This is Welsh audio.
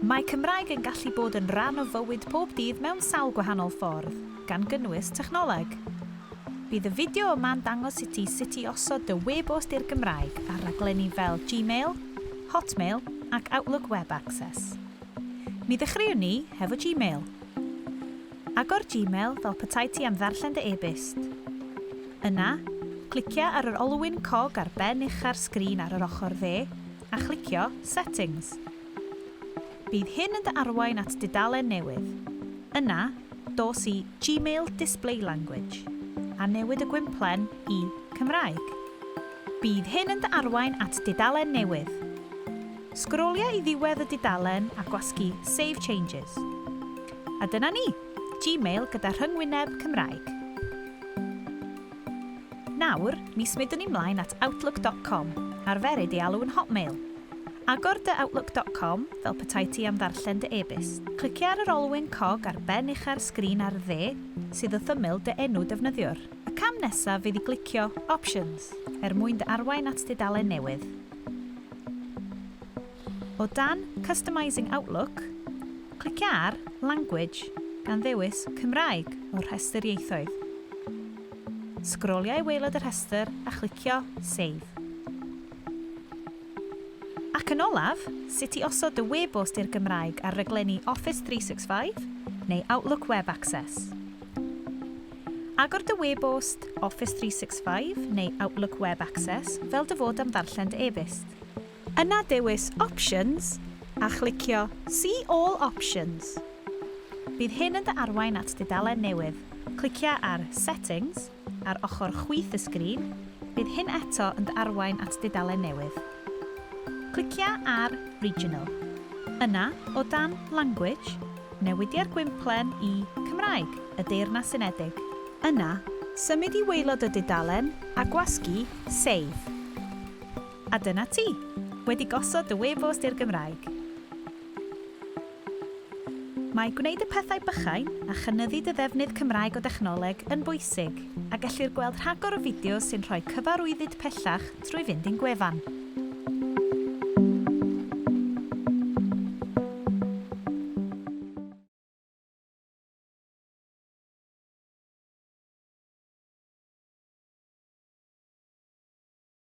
Mae Cymraeg yn gallu bod yn rhan o fywyd pob dydd mewn sawl gwahanol ffordd, gan gynnwys technoleg. Bydd y fideo yma'n dangos i ti sut i osod dy webost i'r Gymraeg ar raglenni fel Gmail, Hotmail ac Outlook Web Access. Mi ddechreuwn ni hefo Gmail. Agor Gmail fel petai ti am ddarllen dy e-byst. Yna, clicia ar yr olwyn cog ar ben ucha'r sgrin ar yr ochr dde, a chlicio Settings. Bydd hyn yn dy arwain at dudalen newydd. Yna, dos i Gmail Display Language, a newid y gwymplen i Cymraeg. Bydd hyn yn dy arwain at dudalen newydd. Sgrolia i ddiwedd y dudalen a gwasgu Save Changes. A dyna ni! Gmail gyda rhyngwyneb Cymraeg. Nawr, mi smydwn ni mlaen at Outlook dot com, arferid ei alw yn Hotmail. Agor dy Outlook dot com fel petai ti am ddarllen dy e-byst. Clicia ar yr olwyn cog ar ben ucha'r sgrin ar dde, sydd wrth ymyl dy enw defnyddiwr. Y cam nesaf fydd i glicio Options er mwyn dy arwain at dudalen newydd. O dan 'Customising Outlook', clicia ar 'Language' gan ddewis 'Cymraeg' o'r rhestr ieithoedd. Sgrolia i waelod y rhestr a chlicio 'Save'. Ac yn olaf, sut i osod dy webost i'r Gymraeg ar raglenni Office 365 neu Outlook Web Access. Agor dy webost Office 365 neu Outlook Web Access fel dy fod am ddarllen dy e-byst. Yna dewis Options a chlicio See All Options. Bydd hyn yn dy arwain at dudalen newydd. Clicia ar Settings ar ochr chwith y sgrin, bydd hyn eto yn dy arwain at dudalen newydd. Clicia ar Regional. Yna, o dan Language, newidia'r gwymplen i Cymraeg y Deyrnas Unedig. Yna, symud i waelod y dudalen a gwasgu Save. A dyna ti! Wedi gosod dy webost i'r Gymraeg! Mae gwneud y pethau bychain a chynyddu dy ddefnydd Cymraeg o dechnoleg yn bwysig, a gellir gweld rhagor o fideos sy'n rhoi cyfarwyddyd pellach trwy fynd i'n gwefan.